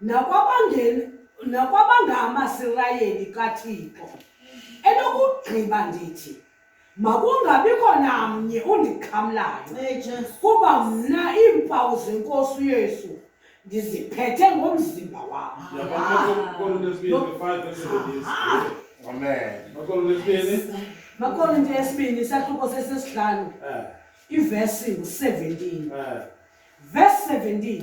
nakwabangeni nakwabangamasirayeli kaThixo enokugqiba ndithi makungabikho namnye undixhamlayo kuba mna iimpawu zenkosi uyesu ndiziphethe ngomzimba wam makolonto yesibini isahluko sesesihlanu eh. ivesi ngu-17 eh. vesi 17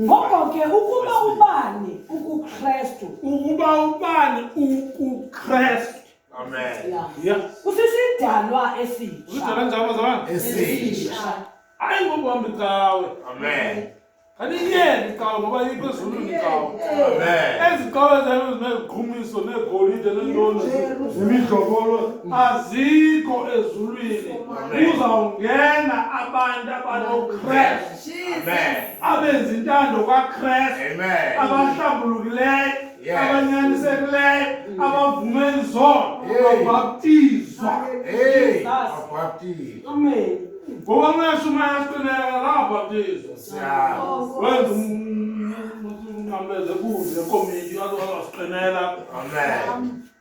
ngoko ke ukuba ubani ukukrestu ukuba ubani ukukrestu amen yeah. kusisidalwa esitsha usidalwa njalo zona esitsha hayi ngokuhamba icawe amen andiyeni icawe ngoba yikho ezulwini icawe ezi cawe zayo zineziqhumiso neegolide neentoni nemidlokolo azikho ezulwini kuzawungena abantu abanokrestu abenza intando kakrestu abahlambulukileyo abanyanisekileyo mm. abavume izono babhaptizwa ngoba ungashumayela siqineka kabhaptizwa wenza umnqameze kuze komiti azasiqinela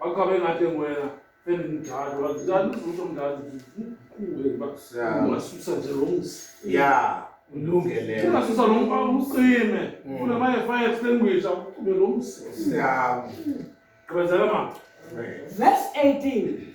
Wachabe ngathi wena endimdala wazikani uzothi omdala zikhule uba ungasusa nje lo mzi. Yeah. Ulungele. Ungasusa lo mfa umsime. Ufuna mm. maye fire extinguish akucube lo mzi. Yeah. Gqibezela mama. Verse 18.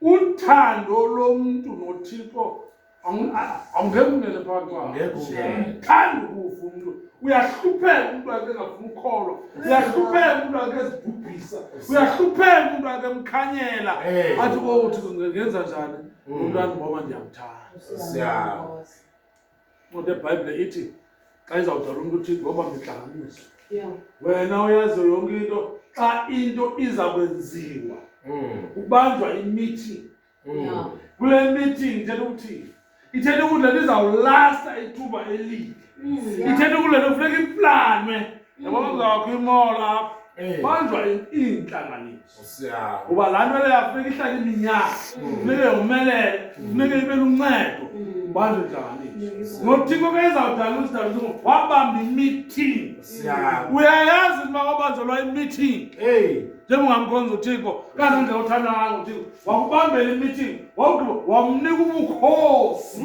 uthando lomntu nothixo awungekumele phakathithanda ukufa umntu uyahlupheka umntu ake engafuna ukholwa uyahlupheka umntu ake ezibhubhisa uyahlupheka umntu ake emkhanyela athi o oh, thixo ngenza njani mm. umntwana ngoba ndiyamthanda Ngoba iBhayibhile ithi xa izawudala umntu uthi ngoba ngidlanganisa. Yeah. Wena uyazi yonke into xa into iza kwenziwa. Mm. Kubanjwa imeeting. Mm. Yeah. Kule meeting ithetha ukuthi ithetha ukuthi le izawulasta ithuba elide. Mm. Ithetha ukuthi le kufuneka iplanwe. Yabona mm. uzawakho imola apha. Eh. Banjwa iintlanganiso. kuba laa nto leyo afuneka ihlale iminyaka funeke yomelele funeke ibe luncedo bantu njani nothiko ke izawudala usidalisa wabamba imithingi uyayazi ukuba kwabanjelwa imithingi njengongamkhonza uthixo kanti nje uthanda kanga uthixo wakubambela imithingi wawugqiba wamnika ubukhosi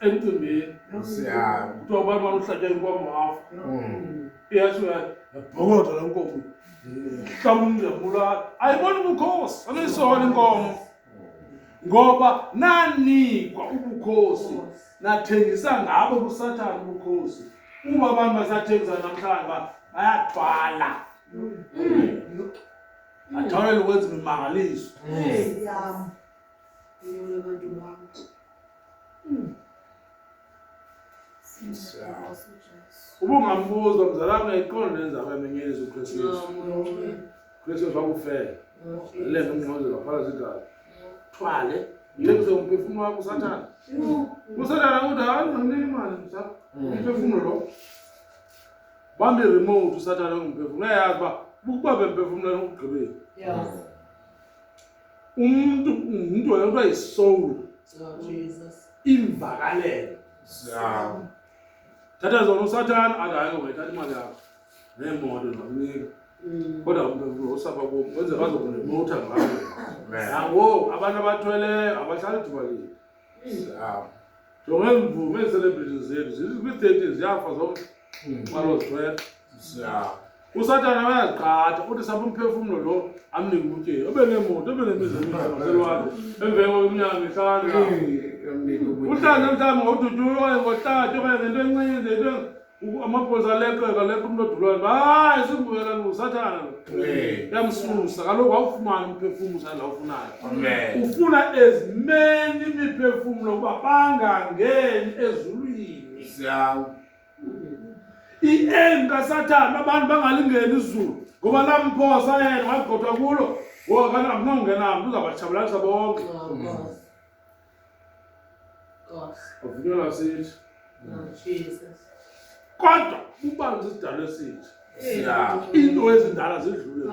emcimbini Siyami. kuthiwa abantu baluhlatya inkomo hafu Mm. yesho yabhokotha la nkomo hlaba umnjabulala ayibona ubukhosi aluyisola inkomo ngoba nanikwa ubukhosi nathengisa ngabo kusathane ubukhosi uma abantu basathengisa namhlanje ba- bayathwala athawulele ukwenza imimangaliso Siyami. uba ungambuza mzalana ayiqondi nenza kwemenye elizo kristu yesu kristu yesu wakufela le nto umngqozela phala zigazi thwale yekuse umphefumulo wakho usathana usathana uthi hayi ndinike imali msa umphefumulo lo bambe remote usathana ungumphefumulo uyayazi uba bukuba bemphefumulela ukugqibela umntu ngumntu wena kuthiwa yisoul imvakalelo thatha zona usathana akayeke wayithatha imali yakho neemoto nokunika mm. kodwa umntu osapha kum wenze bazokunemotha ngayo nangoku abantu abathweleyo abahlali thubalile mm. jonga iimvume eeselebritini zethu zikwi-thirteen ziyafa zonke baloo xesha ya usathana bayazigqatha uthi sambe umphefumlo lo amnike ubutyeyi obe neemoto obe nemizelwakhe emveni kweminyaka mihlanu uhlale mhlawumbi ngodutyuyo okanye ngohlathi okanye ngento encinci into amapolisa aleqeka leqa umntu odulwayo hayi simbuyela lo usathana lo yamsusa kaloku awufumani umphefumlo usanda awufunayo ufuna ezimeni imiphefumlo uba bangangeni ezulwini i-aim kasathane abantu bangalingeni izulu ngoba lamphosa yena wagqothwa kulo ngoba kanti akunongena mntu uzabatshabalalisa bonke avunyelwa sithi kodwa bubanzi isidalo esithi into ezindala zidlule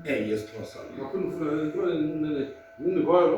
yesixhosa ngaphinda ufuna ngingikhoyo